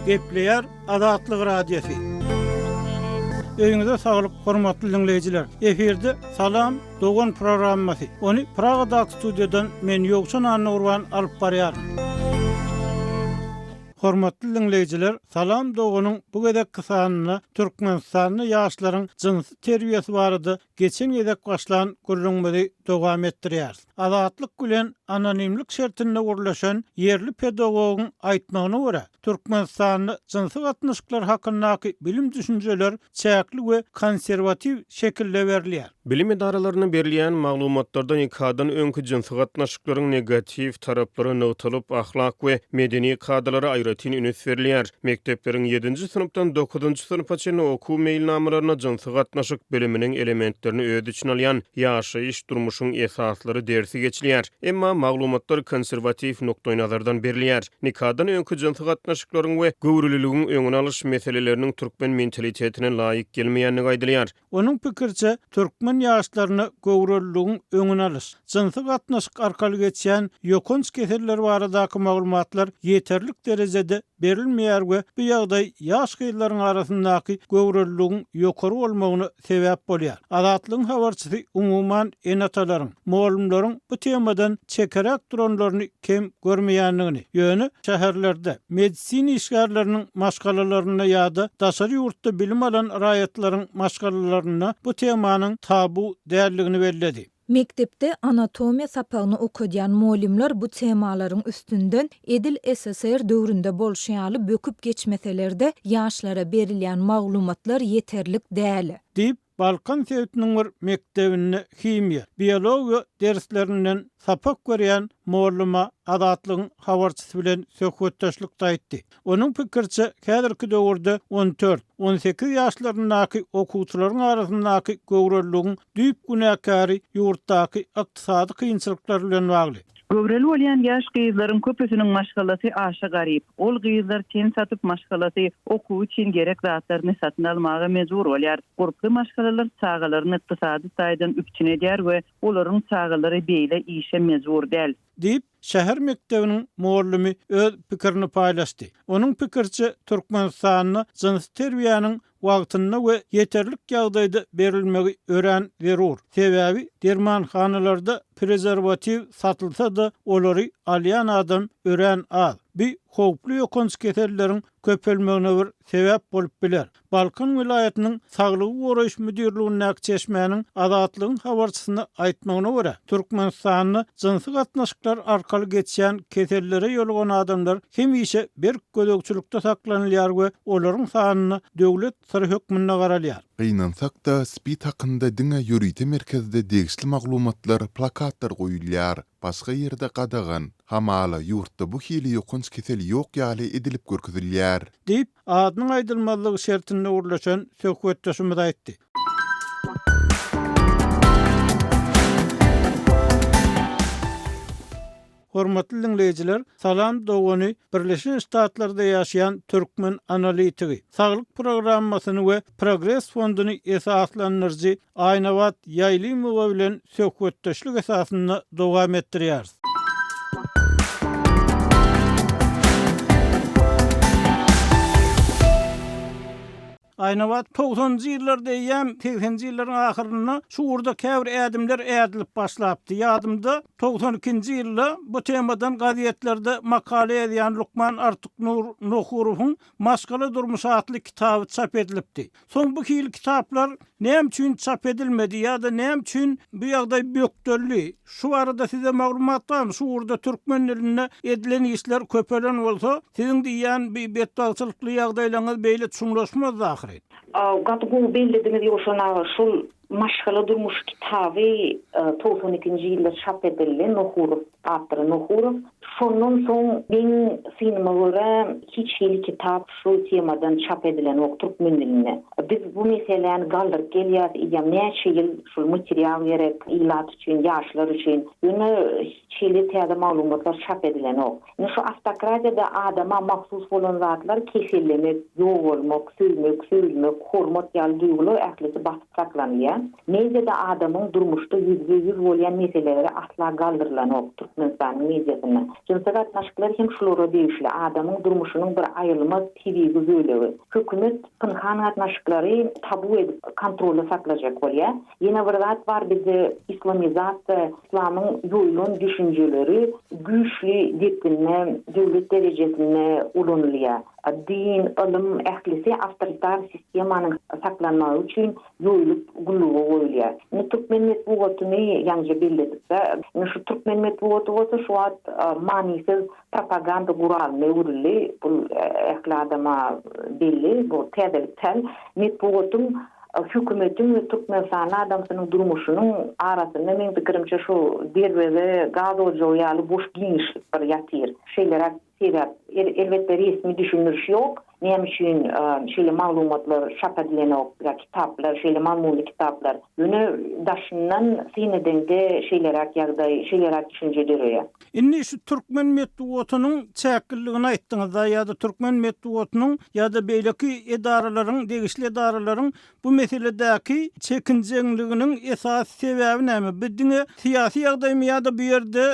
Gepleýär Azatlyk Radiosy. Öýüňize saglyk, hormatly diňleýjiler! Efirde Salam, dogan programmasy. Ony Pragadaky studiýadan men Ýowşan Annagurban alyp barýaryn. Hormatly diňleýjiler, Salam doganyň bu gezekki sanynda Türkmenistanda ýaşlaryň jynsy terbiýesi barada Geçen gezek başlan gürrüňimizi dowam etdirýäris. Azatlyk bilen anonimlik şertinde gürleşen ýerli pedagogyň aýtmagyna görä, Türkmenistanda jynsy gatnaşyklar hakyndaky bilim düşünjeler çäkli we konserwatiw şekilde berilýär. Bilim edaralaryna berilýän maglumatlarda nikadan öňki jynsy gatnaşyklaryň negatiw taraplary nygtalyp, ahlak we medeni kadalara aýratyn üns berilýär. Mekdepleriň ýedinji synpdan dokuzynjy synpa çenli okuw meýilnamalaryna jynsy gatnaşyk biliminiň elementlerini öz içine alýan Ýaşaýyş, durmuşyň esaslary dersi geçilýär. Emma maglumatlar konserwatiw nukdaýnazardan berilýär. Nikadan öňki jynsy gatnaşyklaryň we göwreliligiň öňüni alyş meseleleriniň türkmen mentalitetine laýyk gelmeýändigi aýdylýar. Onuň pikiriçe, türkmen ýaşlaryna göwreliligiň öňüni alyş, jynsy gatnaşyk arkaly geçýän ýokanç keseller baradaky maglumatlar ýeterlik derejede berilmeýär we bu ýagdaý ýaş gyzlaryň arasyndaky göwreliligiň ýokary bolmagyna sebäp bolýar. Azatlygyň habarçysy umuman ene-atalaryň, mugallymlaryň bu temadan çekeräk duranlaryny kem görmeýändigini, ýöne şäherlerde medisina işgärleriniň maşgalalarynda ýa-da daşary ýurtda bilim alan raýatlaryň maşgalalarynda bu temanyň tabu däldigini belledi. Mekdepde anatomiýa sapagyny okadýan mugallymlar bu temalaryň üstünden edil SSR döwründe bolşy ýaly böküp geçmeseler-de, ýaşlara berilýän maglumatlar ýeterlik däl. Diýip, Balkan sebitiniň bir mekdebinde himiýa, biologiýa derslerinden sapak berýän mollama Azatlygyň habarçysy bilen söhbetdeşlikde aýtdy. Onuň pikiriçe, häzirki döwürde on dört, on sekiz ýaşlaryndaky okuwçylaryň arasyndaky göwreligiň düýp günäkäri ýurtdaky ykdysady kynçylyklar bilen bagly. Göwreli bolýan ýaş gyzlaryň köpüsiniň maşgalasy aşa garyp. Ol gyzlar ten satyp maşgalasy okuw üçin gerek zatlaryny satyn almaga mejbur bolýar. Gurply maşgalalar çagalaryny ykdysady taýdan üpjün edýär we olaryň çagalary beýle işe mejbur däl. Diýip, şäher mekdebiniň mugallimi öz pikirini paýlaşdy. Onuň pikiriçe, Türkmenistanda jynsy terbiýäniň wagtynda we ýeterlik ýagdaýda berilmegi örän zerur. Sebäbi dermanhanalarda prezerwatiw satylsa-da, olary alýan adam örän az. Bu howply ýokanç keselleriň köpelmegine bir sebäp bolup biler. Balkan welaýatynyň Saglygy goraýyş müdirligindäki çeşmäniň Azatlygyň habarçysyna aýtmagyna görä, Türkmenistanda jynsy gatnaşyklar arkaly geçýän kesellere ýolugan adamlar hemişe berk gözegçilikde saklanylýar we olaryň sanyna döwlet syry hökmünde garalýar. Gynansak-da, SPID hakynda diňe ýörite merkezde degişli maglumatlar, plakatlar goýulýar. Başga ýerde gadagan. Hamala, ýurtda bu hili ýokanç kesel ýok ýaly edilip görkezilýär. Diýip, adynyň aýdylmazlygy şertinde gürleşen söhbetdeşimiz aýtdy. Hormatly diňleýjiler, Salam dogany Birleşen Ştatlarda ýaşaýan türkmen analitigi, Saglyk programmasyny we Progres fonduny esaslandyryjy Aýnabat Ýaýlymowa bilen söhbetdeşlik esasynda dowam etdirýäris. Aýnabat, Togsanjy ýyllar diýýän, segsenji ýyllaryň ahyrynda şu ugurda käbir ädimler ädilip başlapdy. Ýadymda, togsan ikinji ýylda bu temadan gazetlerde makala ýazýan lukman Artyknur Nohurowyň Maşgala durmuşy atly kitaby çap edilipdi. Soň bu hili kitaplar näme üçin çap edilmedi ýa-da näme üçin bu ýagdaý bökdeldi? Şu barada size maglumat barmy? Şu ugurda türkmen dilinde edilen işler köpelen bolsa, siziň diýýän bi betbagtçylykly ýagdaýlaňyz beýle çuňlaşmazdy ahyry. Gaty gowy bellediňiz Ýowşan aga şul Maşgala durmuşy kitaby togsan ikinji ýylda çap edildi Nohurow awtory Nohurow. Şondan soň meň synyma görä hiç hili kitap şu temadan çap edilenok türkmen dilinde. Biz bu meseläni galdyryp gelýäs eýýäm näçe ýyl şul material gerek ilat üçin ýaşlar üçin ýöne hiç hili täze maglumatlar çap edilenok. Indi şu awtokratiýada adama mahsus bolan zatlar kesellemek, ýogalmak, söýmek, söýülmek, hormat ýaly duýgular ählisi basyp saklanylýar. Mediada adamyň durmuşda ýüzbe ýüz bolýan meseleleri asla galdyrylanok Türkmenistanyň mediasynda. Jynsy gatnaşyklar hem şulara degişli adamyň durmuşynyň bir aýrylmaz tebigy bölegi. Hökümet pynhan gatnaşyklary tabu edip kontrolda saklajak bolýa. Ýene bir zat bar bizde islamizasiýa islamyň ýoýulan düşünjeleri güýçli depginde döwlet derejesinde ulanylýa. Din, ylym ählisi awtoritar sistemanyň saklanmagy üçin Ýoýulyp gulluga goýulýar. Indi türkmen metbugatyny ýaňyja belledikde, indi şu türkmen metbugaty bolsa şu wagt manysyz propaganda guralyna öwrüldi. Bu ähli adama belli, bu täzelik däl. Metbugatyň hökümetiň we türkmenistanly adamsynyň durmuşynyň arasynda meň pikirimçe şu derweze gaz ojagy ýaly boş giňişlik bir ýatyr. Şeýleräk Sebäp, elbetde, resmi düşündiriş ýok, näme üçin şeýle maglumatlar çap edilenok, ýa kitaplar, şeýle mazmunly kitaplar. Ýöne daşyndan syn edeňde şeýleräk ýagdaý, şeýleräk düşünje döreýär. Indi şu türkmen metbugatynyň çäkliligini aýtdyňyz-da, ýa-da türkmen metbugatynyň ýa-da beýleki edaralaryň, degişli edaralaryň bu meseledäki çekinjeňliginiň esasy sebäbi näme? Bu diňe syýasy ýagdaýmy ýa-da bu ýerde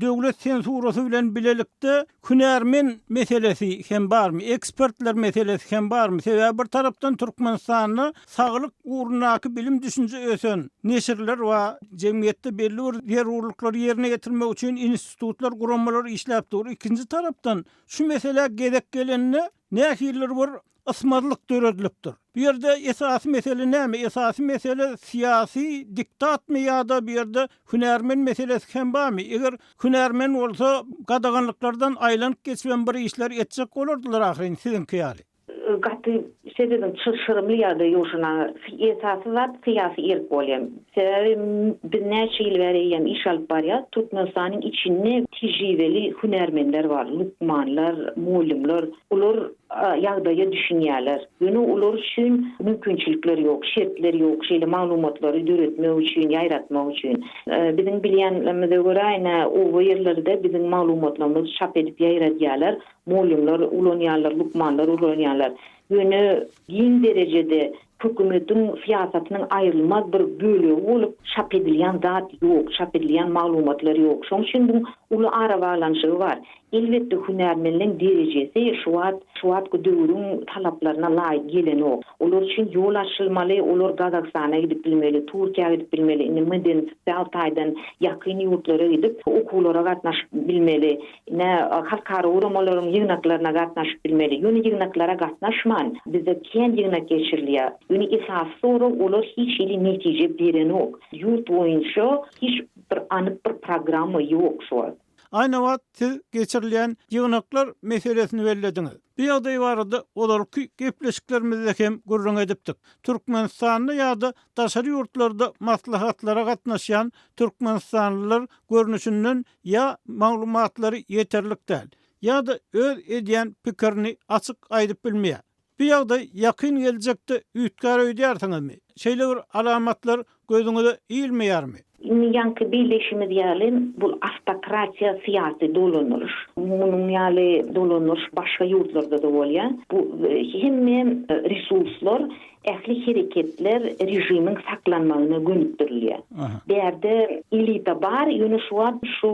Döwlet sensurasy bilen bilelikde hünärmen meselesi hem barmy, ekspertler meselesi hem barmy? Sebäbi bir tarapdan Türkmenistanda saglyk ugrundaky bilim düşünje ösen, neşirler bar, jemgyýetde belli bir zerurlyklary ýerine ýetirmek üçin institutlar, guramalar işläp dur. Ikinji tarapdan şu meselä gezek gelende nähilidir bir ysmazlyk döredilipdir. Bu ýerde esasy mesele näme? Esasy mesele syýasy diktatmy ýa-da bu ýerde hünärmen meselesi hem barmy? Eger hünärmen bolsa, gadaganlyklardan aýlanyp geçibem bir işler etjek bolardylar ahyryn, siziňki ýaly. Gaty şeýledim, çylşyrymly ýagdaý ýoşan aga. Esasy zat syýasy erk bolýar. Sebäbi biz näçe ýyl bäri eýýäm iş alyp barýarys. Türkmenistanyň içinde tejribeli hünärmenler bar, lukmanlar, mugallymlar. Olar ýagdaýa düşünýärler. Ýöne olar üçin mümkinçilikler ýok, şertler ýok şeýle maglumatlary döretmek üçin, ýaýratmak üçin. Biziň bilýänimize görä, ine, oba ýerlerde biziň maglumatlarymyzy çap edip ýaýradýarlar, mugallymlar ulanýarlar, lukmanlar ulanýarlar. Ýöne giň derejede Hökümetiň syýasatynyň aýrylmaz bir bölegi bolup, çap edilýän zat ýok, çap edilýän maglumatlar ýok. Şoň üçin bu uly arabaglanyşygy bar. Elbetde, hünärmenleň derejesi şu wagt, şu wagtky döwrüň talaplaryna laýyk gelenok. Olar üçin ýol açylmaly, olar Gazagystana gidip bilmeli, Türkiýä gidip bilmeli, indi medeni-sosial taýdan ýakyn ýurtlara gidip, okuwlara gatnaşyp bilmeli. Ine, halkara guramalaryň ýygnaklaryna gatnaşyp bilmeli. Ýöne ýygnaklara gatnaşman, bizde kän ýygnak geçirilýär. Ýöne esasy sorag, olar hiç hili netije berenok. Ýurt boýunça hiç bir anyk bir programma ýok şu wagt. Aýnabat, siz geçirilýän ýygnaklar meselesini bellediňiz. Bu ýagdaý barada ozalky gepleşiklerimizde hem gürrüň edipdik. Türkmenistanda ýa-da daşary ýurtlarda maslahatlara gatnaşýan türkmenistanlylar görnüşinden ýa maglumatlary ýeterlik däl, ýa-da öz edýän pikirini açyk aýdyp bilmeýär. Bu ýagdaý ýakyn geljekde üýtgär öýdýärsiňizmi? Şeýle bir alamatlar gözüňize ilmeýärmi? Indi ýaňky belleýşimiz ýaly, bu awtokratiýa syýasy dolanyryş. Munuň ýaly dolanyryş başga ýurtlarda-da bolýar. Bu hemme resurslar Ähli hereketler režimiň saklanmagyna gönükdirilýär. Bärde elita bar, ýöne şu wagt şu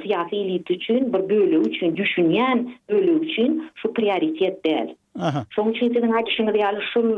syýasy elita üçin bir bölegi üçin, düşünýän bölegi üçin şu prioritet däl. Şonuň üçin siziň aýdyşyňyz ýaly şul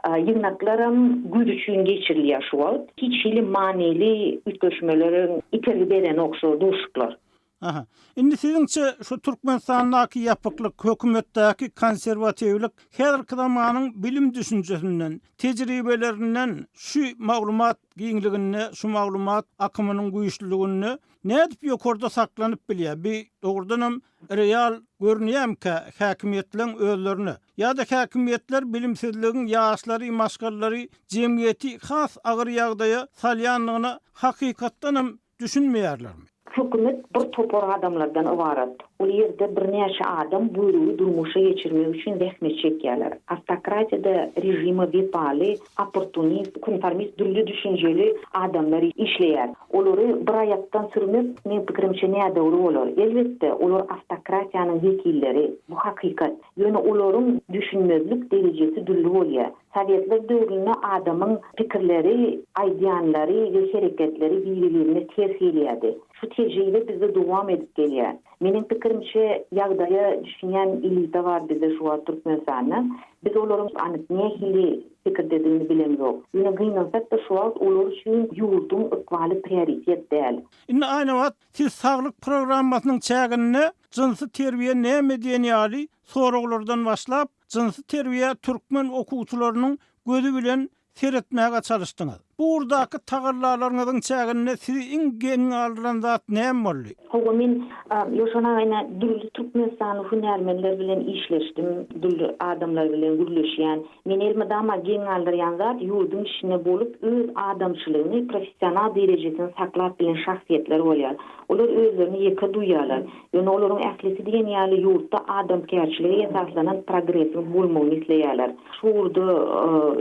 ýygnaklaram güýz üçin geçirilýär şu wagt. Hiç hili manyly üýtgeşmelere itergi berenok şu duşuklar. Aha. Indi siziňçe şu Türkmenistandaky ýapyklyk, hökümetdäki konserwatiwlik häzirki zamanyň bilim düşünjesinden, tejribelerinden şu maglumat giňliginde, şu maglumat akymynyň güýçliliginde nädip ýokarda saklanyp bilýär? Bi dogrudanam real görünýämkä häkimiýetleň özlerine? Ýa-da häkimiýetler bilimsizligiň ýaşlary, maşgalalary, jemgyýeti has agyr ýagdaýa salýandygyna hakykatdanam Düşünmeýärlermi? Hökümet bir topar adamlardan ybarat. Ol ýerde birnäçe adam buýrugy durmuşa geçirmek üçin zähmet çekýärler. Awtokratiýada režime wepaly, opportunist, konformist dürli düşünjeli adamlar işleýär. Olary bir aýakdan sürmek, meň pikirimçe, nädogry bolar. Elbetde, olar awtokratiýanyň wekilleri. Bu hakykat. Ýöne olaryň düşünmezlik derejesi dürli bolýar. Sowetler döwründe adamyň pikirleri, aýdýanlary we hereketleri biri-birine ters gelýärdi. Şu tejribe bizde dowam edip gelýär. Meniň pikirimçe, ýagdaýa düşünýän elita bar bizde şu wagt Türkmenistanda. Biz olaryň anyk nähili pikirdedigini bilemzok. Ýöne gynansak-da şu wagt olar üçin ýurduň ykbaly prioritet däl. Indi Aýnabat, siz saglyk programmasynyň çäginde jynsy terbiýe näme diýen ýaly soraglardan başlap, Jynsy terbiýä türkmen okuwçylarynyň gözi bilen seretmäge çalyşdyňyz. Bu ugurdaky tagallalaryňyzyň çäginde sizi iň geň galdyran zat näme boldy? Hawa, men Ýoşan aganyň dürli türkmenistanly hünärmenler bilen işleşdim, dürli adamlar bilen gürleşýän. Meni elmydama geň galdyrýan zat, ýurduň içinde bolup, öz adamçylygyny, professional derejesini saklap bilen şahsyýetler bolýar. Olar özlerini ýeke duýýarlar. Ýöne olaryň ählisi diýen ýaly ýurtda adamkärçilige esaslanan progresiň bolmagyny isleýärler. Şu ugurda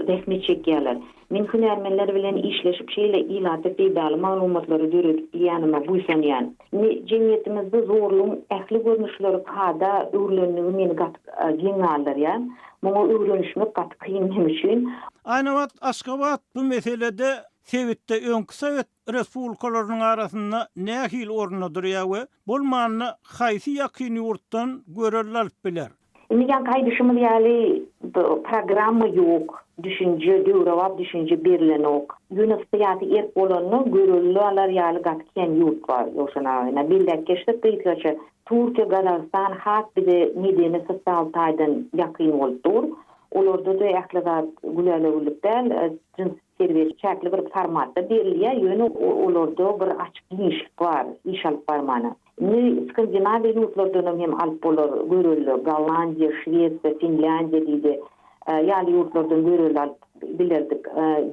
zähmet çekýärler. Men hünärmenler bilen işleşip şeýle ilata peýdaly maglumatlary döredip bilýänime buýsanýan. Indi jemgyýetimizde zorlugyň ähli görnüşleri kada öwrülendigi meni gaty geň galdyrýar. Muňa öwrenişmek gaty kyn men üçin. Aýnabat Aşgabat bu meselede sebitde öňki sowet respublikalarynyň arasynda nähili orunda durýar we bolmanda haýsy ýakyn ýurtdan görelde alyp biler? Indi ýaňky aýdyşymyz ýaly programma ýok, düşünje, döwrebap düşünje berilenok. Ýöne syýasy erk bolanda görelde alar ýaly gaty kän ýurt bar, Ýowşan aga. Ine, belläp geçsek gysgaça, Türkiýe, Gazagystan has bize medeni, sosial taýdan ýakyn bolup dur. Olarda-da ähli zat gülälewürlik däl, jyns Serwis çäkli bir formatda berilýär, ýöne olarda bir açyk giňişlik bar, iş alyp barmana. Indi Skandinawiýa ýurtlardanam hem alyp bolar, görelde, Gollandiýa, Şwesiýa, Finlýandiýa diýdi, ýaly ýurtlardan görelde alyp bilerdik.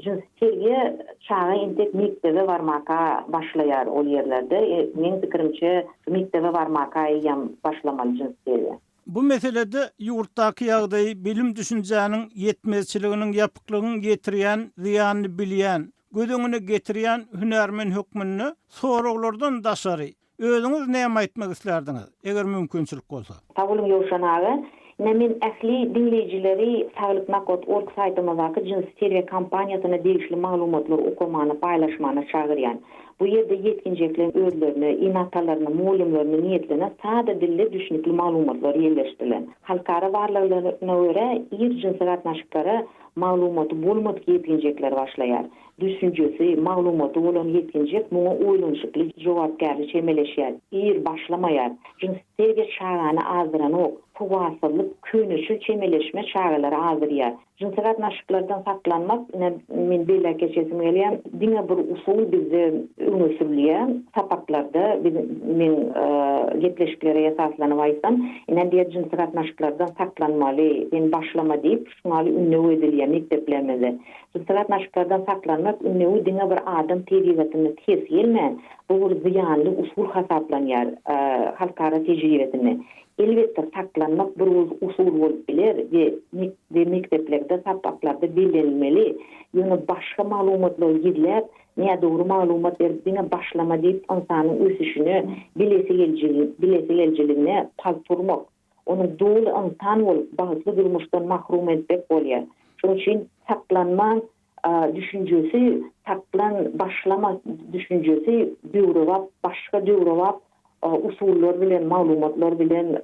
Jynsy terbiýe çaga entek mekdebe barmaka başlaýar ol ýerlerde. Meň pikirimçe, mekdebe barmaka eýýäm başlamaly jynsy terbiýe. Bu meselede ýurtdaky ýagdaýy, bilim düşünjäniň ýetmezçiliginiň, ýapyklygyň ýetirýän zyýanyny bilýän, göz öňüne getirýän hünärmen hökmünde soraglardan daşary, özüňiz näme aýtmak islärdiňiz, eger mümkinçilik bolsa? Sag boluň Ýowşan aga. Ine men ähli diňleýjileri Saglyk Nakat org saýtymyzdaky Jinsy Serwýe kampaniýasyna degişli maglumatlary okamana, paýlaşmana çagyrýan. Bu ýerde ýetginjekleň özlerine, ene-atalaryna, mugallymlaryna niýetlenen sada dilde düşnükli maglumatlar ýerleşdirilen. Halkara barlaglaryna görä, ir jynsy gatnaşyklara maglumaty bolmadyk ýetginjekler başlaýar. Düşünjesi, maglumaty bolan ýetginjek muňa oýlanyşykly, jogapkärli çemeleşýär, ir başlamaýar. Jynsy terbiýe çagany azdyranok. Sowatsyzlyk, köneçil çemeleşme çagalary azdyrýar. Jynsy gatnaşyklardan saklanmak ine men belläp geçesim gelýär diňe bir usul bizde öňe sürülýär sapaklarda biz meň gepleşiklere esaslanyp aýtsam ine diýer jynsy gatnaşyklardan saklanmaly sen başlama diýip şuňaly ündew edilýär mekdeplerimizde jynsy gatnaşyklardan saklanmak ündewi diňe bir adam tebigatyna ters gelmän bu bir zyýanly usul hasaplanýar halkara tejribesinde Elbetde saklanmak bir usul bolup biler we we mekdeplerde sapaklarda bellenilmeli, ýöne başga maglumatlary gizläp, nädogry maglumat berip diňe başlama diýip ynsanyň ösüşine, bilesi geljigine, bilesi geljiligine palt urmak, ony doly ynsan bolup bagtly durmuşdan mahrum etmek bolýar. Şonuň üçin saklanman düşünjesi taplan başlama düşünjesi döwrebap başga döwrebap usullar bilen maglumatlar bilen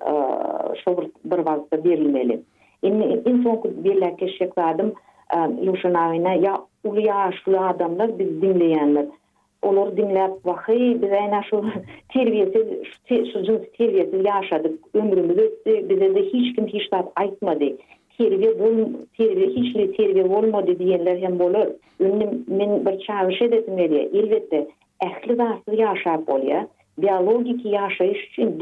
şo bir bir wagtda berilmeli. Indi iň soňky belläp geçjek zadym Ýuşa Naýna ýa uly ýaşly adamlar bizi diňleýänler Olary diňläp, Waheý, biz äýne şu terbiýesiz, şu jynsy terbiýesiz ýaşadyk, ömrümiz ötdi, bize-de hiç kim hiç zat aýtmady. Terbiýe bol, terbiýe hiç hili terbiýe bolmady diýenler hem bolar. Indi men bir çagyryş edesim gelýär. Elbetde, ähli zatsyz ýaşap bolýar. Biologiki ýaşaýyş üçin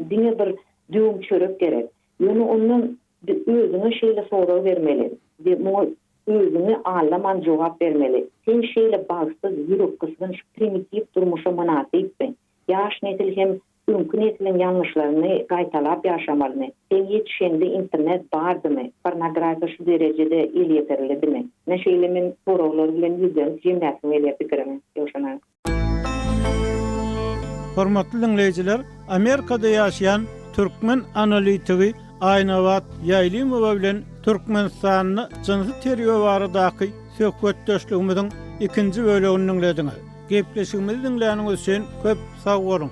diňe bir düwüm çörek gerek. Ýöne ondan de özüňe şeýle sorag bermeli we muňa özüňi allaman jogap bermeli, Sen şeýle bagtsyz, ýürekgysgynç, primitiw durmuşa mynasypmy? Ýaş nesil hem öňki nesliň ýalňyşlaryny gaýtalap ýaşamalymy? Sen ýetişeňde internet bardymy? Pornografiýa şu derejede elýeterlidimi? Ine şeýle men soraglar bilen ýüzlenip jemläsim gelýär pikirimi, Ýowşan aga. Hormatly diňleýjiler, Amerikada ýaşaýan türkmen analitigi Aýnabat Ýaýlymowa bilen Türkmenistanda jynsy terbiýe baradaky söhbetdeşligimiziň ikinji bölegini diňlediňiz. Gepleşigimizi diňläniňiz üçin köp sag boluň!